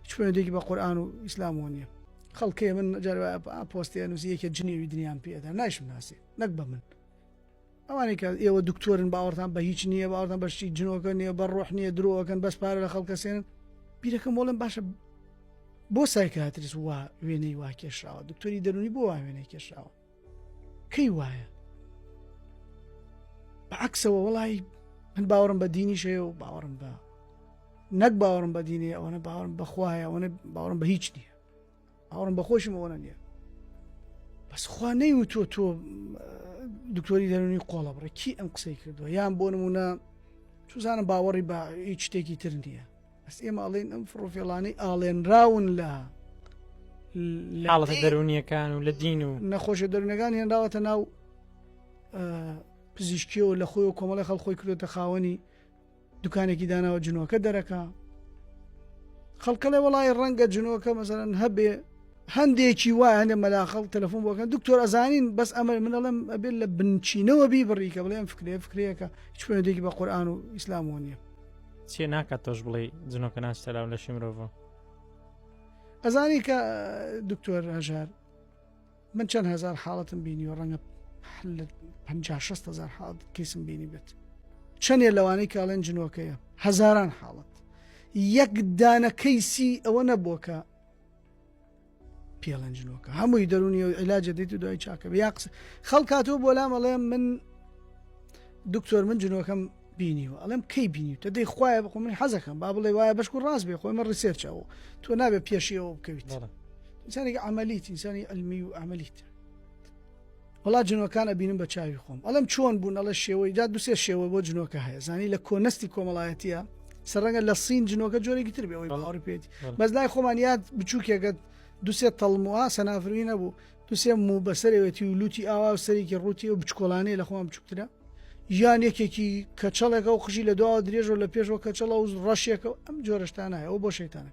هیچ پەیوەندیەکی بە قورئان و ئیسلامەوە نییە. خەڵکێ من جار پۆستی ئەنووسی یەکێ جنێوی دنیام پێدا نایشم ناسێ نەک بە من ئەوانێک کە ئێوە دکتۆرن باوەڕتان بە هیچ نییە باوەڕتان بەشتی جنۆکە نیە بە ڕۆح نییە درۆەکەن بەس پارە لە خەڵکەسێن بیرەکەم وڵم باشە بۆ سایکاتریس وا وێنەی وا کێشراوە دکتۆری دەرونی بۆ وا وێنەی کێشراوە کەی وایە بە عکسەوە وڵی من باوەڕم بە دینیش هەیە و باوەڕم بە نەک باوەڕم بە دینێ ئەوەنە باوەڕم بەخوایە ئەوەنە باوەڕم بە هیچ نییە باوەڕم بە خۆشم ئەوەنە نییە بەس خوا نەی و تۆ تۆ دکتۆری دەرونی قۆڵە بڕێ کی ئەم قسەی کردووە یان بۆ نمونە توزانم باوەڕی بە هیچ شتێکی تر نییە بەس ئێمە ئەڵێن ئەم فڕۆفێڵانەی ئاڵێنراون لە حاڵەتە دەرونیەکان و لە دین و نەخۆشە دەرونەکان هێنراوەتە ناو پزیشکیەوە لە خۆی و کۆمەڵی خەڵ خۆی کردێتە خاوەنی دوکانێکی داناوە جنۆکە دەرەکە خەڵکە لە وڵی ڕەنگە جنۆکە مەزەرەن هەبێ هەندێکی وایە هەندێک مەلا خەڵک تەلەفۆن بۆ ئەکەن دکتۆر ئەزانین بەس ئەمەر من ئەڵێم ئەبێت لە بنچینەوە بیبڕی کە بڵێ ئەم فکرەیە فکرەیەکە هیچ پەیوەندێکی بە قورئان و ئیسلام وە نییە چێ ناکات تۆش بڵێ جنۆکە ناشتەلاو لەشی مرۆڤ ئەزانی کە دکتۆر هەژار من چەند هزار حاڵەتم بینی و ڕەنگە لە 500 هزار حاڵت کەسم بینی بێت چەندێ لەوانەی کاڵێن جنۆکەیە هەزاران حاڵت یەک دانە کەیسی ئەوە نەبووە کە پێڵەنجنۆکە هەمووی دەرونی و علاجە دیت و دوای چاکە یا قسە خەڵکاتەوە بۆ لام ئەڵێم من دکتۆر من جنۆکەم بینیوە ئەڵێم کەی بینی تە دەی خوایە بخۆ من حەزەکەم با بڵێ وایە بەشکو ڕاست بێ خۆی من ڕیسێرچەوە تۆ نابێ پێشیەوە بکەویت ئینسانی عملیت ئینسانی علمی و عملیت وەڵا جنۆکان ئەبینم بە چاوی خۆم ئەڵێم چۆن بوون ئەڵێ شێوەی جا دوسێ شێوە بۆ جنۆکە هەیە زانی لە کۆنەستی کۆمەڵایەتە سەرەنگە لە سین جنۆکە جۆرێکی تر بێەوەی باوەڕ پێێت بەس لای خۆمان یاد بچووکێکەت دوسێ تەڵموە سەنافروی نەبوو دوسێ موو بەسەرەوەتی و لوتی ئاوا و سەرێکی ڕووتی و بچکۆلانەیە لە خۆم بچووکترە یان یەکێکی کەچەڵێکە و قژی لە دواوە درێژەوە لە پێشەوە کەچەڵە و ڕەشێکە ئەم جۆرەشتانایەوە بۆ شەیتانە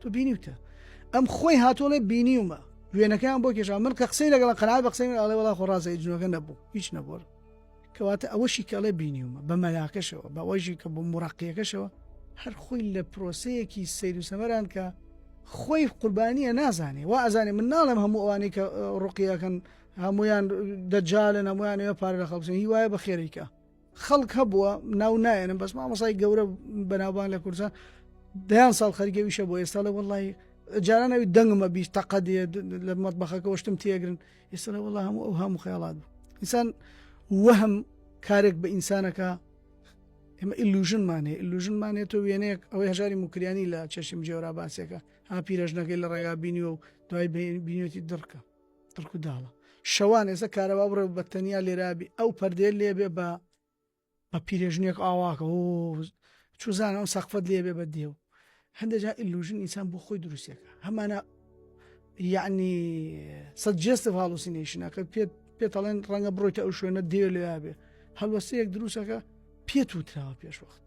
تۆ بینیوتە ئەم خۆی هاتووە ڵێ بینیومە وێنەکەیان بۆ کێشا من کە قسەی لەگەڵ قەنات بە قسەی من ئاڵێ وڵا خۆ ڕازە جنۆگە نەبوو هیچ نەبووە کەواتە ئەوەشی کەڵێ بینیومە بە مەلاکەشەوە بەوەژی کە بۆ مڕقیەکەشەوە هەر خۆی لە پرۆسەیەکی سیر و سەمەران کە خۆی قوربانیە نازانێ وا ئەزانێ من ناڵم هەموو ئەوانەی کە ڕقیەکەن هەمویان دەجالن هەمویانەوە پارە لە خەڵبسن هیوایە بە خێریکە خەڵک هەبووە ناو نایەنم بەس مامۆسای گەورە بەناوبانگ لە کوردستان دەیان ساڵ خەرگە ویشە بۆ ئێستا لە وەڵی جارانەوی دەنگمە بیست تەقە دێ لە مەتبەخەکەەوەشتم تێگرن ئێستا لە وەڵام ئەو هەموو خەیاڵات بوو ئینسان وەهم کارێک بە ئینسانەکە ئێمە ئیلوژنمان هەیە ئیلوژنمان هەیە تۆ وێنەیەک ئەوەی هەژاری مکریانی لە چەشم جێورا باسێکە ها پیرەژنەکەی لە ڕێگا بینیوە و دوای بینێتی دڕکە تڕک و داڵە شەوان ئێستا کارەبا بڕێ و بەتەنیا لێرابی ئەو پەردێ لێبێ بە بە پیرێژنێک ئاواکە و چوزانە ئەو سەقفەت لێبێ بە دێو هەندێجا ئیلوژن ئینسان بۆ خۆی دروستەکە هەمانە یعنی سەد جێستە هاڵوسینەیشنەکە پێت پێتەڵێن ڕەنگە بڕۆیتە ئەو شوێنە دێ لێبێ هەڵوەستەیەک دروستەکە پێت وتراوە پێشوەخت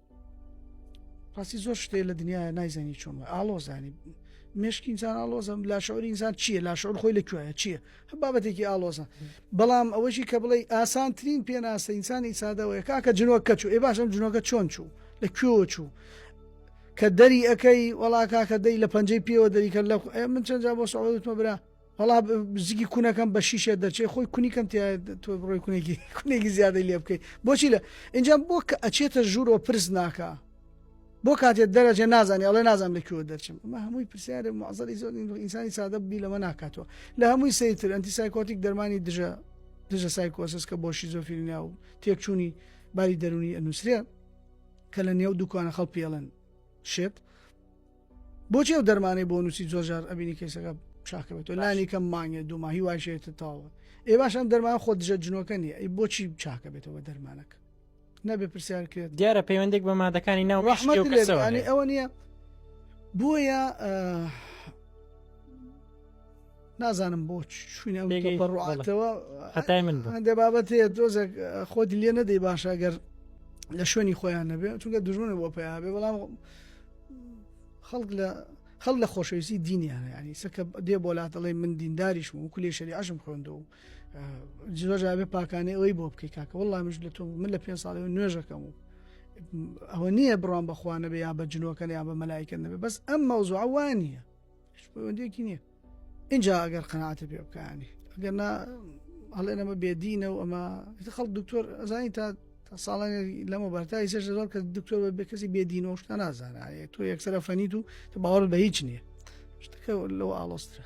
ڕاستی زۆر شتێ لە دنیا نایزانی چۆن ئالۆزانی مشکی ئینسان ئالۆزم لاشعور ئینسان چییە لاشعور خۆی لە کوێە چییە هە بابەتێکی ئالۆزە بەڵام ئەوەشی کە بڵێ ئاسانترین پێناسە ئینسانی سادەوەی کاکە جنۆکە چوو ئێ باشم جنۆکە چۆن چوو لە کوێ چوو کە دەری ئەەکەی وڵا کاکە دەی لە پەنجەی پێوە دەریکە لە من چەندجا بۆ سەوتمە برا وەڵا بزگی کوونەکەم بە شیشە دەرچەی خۆی کونی کەم تیا تۆ بڕۆی کونێکی کونێکی زیادە لێ بکەیت بۆچی لە اینجا بۆ کە ئەچێتە ژوورەوە پرس ناکە بۆ کاتێت دەرەجێ نازانانی ئەڵێ نازانام لە کوێ دەرچم ئەمە هەمووی پرسیارە معزەری زۆر ئینسانی سادە بی لەمە ناکاتەوە لە هەمووی سەیتر ئەنتی سایکۆتیک دەرمانی دژە دژە سایکۆسس کە بۆ شیزۆفیلنیا و تێکچوونی باری دەرونی ئەنووسرێ کە لە نێو دوکانە خەڵ پێڵن شێت بۆچی ئەو دەرمانەی بۆ نووسی زۆرجار ئەبینی کەیسەکە چاکە بێت و لانی کەم مانگێ دوو ماهی وایشێتە تاوە ئێ باشم دەرمان خۆ دژە جنۆکە نیە ئەی بۆچی چاکە بێتەوە دەرمانەکە نەبێ پرسیار کرێت دیارە پەیوەندێک بە مادەکانی ناو ڕحمەتەوەانی ئەوە نییە بۆیە نازانم بۆ چوینە بەڕاتەوە هەتای من هەندێ بابەت هەیە دۆزێک خۆت لێ نەدەی باشە گەر لە شوێنی خۆیان نەبێ چونکە دژونە بۆ پیا بێ بەڵام خەڵک لە خەڵ لە خۆشەویستی دینیان ینی سەکە دێ بۆ لاتەڵی من دینداریش و کولی شەری عشم خوێندە و جۆژابێ پاکانێ ئەوەی بۆ بکەی کاکە وڵام مش لە تۆ من لە پێ ساڵی نوێژەکەم و ئەوە نییە بڕام بەخواانە بێ یا بە جنۆکەن یا بە مەلایکە نەبێ بەس ئەم مەوزوعوان نیە پەیوەندیەکی نییە اینجا ئەگەر قەناتە پێ بکانی ئەگەر نا هەڵێ ئەمە بێدینە و ئەمە خەڵ دکتۆر ئەزانی تا ساڵانی لەمە بەرتای سێش زۆر کە دکتۆر بە کەسی بێدین و شتە نازانایە تۆ یەکسەر فەنیت و تە باوەڕ بە هیچ نییە شتەکە لەوە ئاڵۆسترە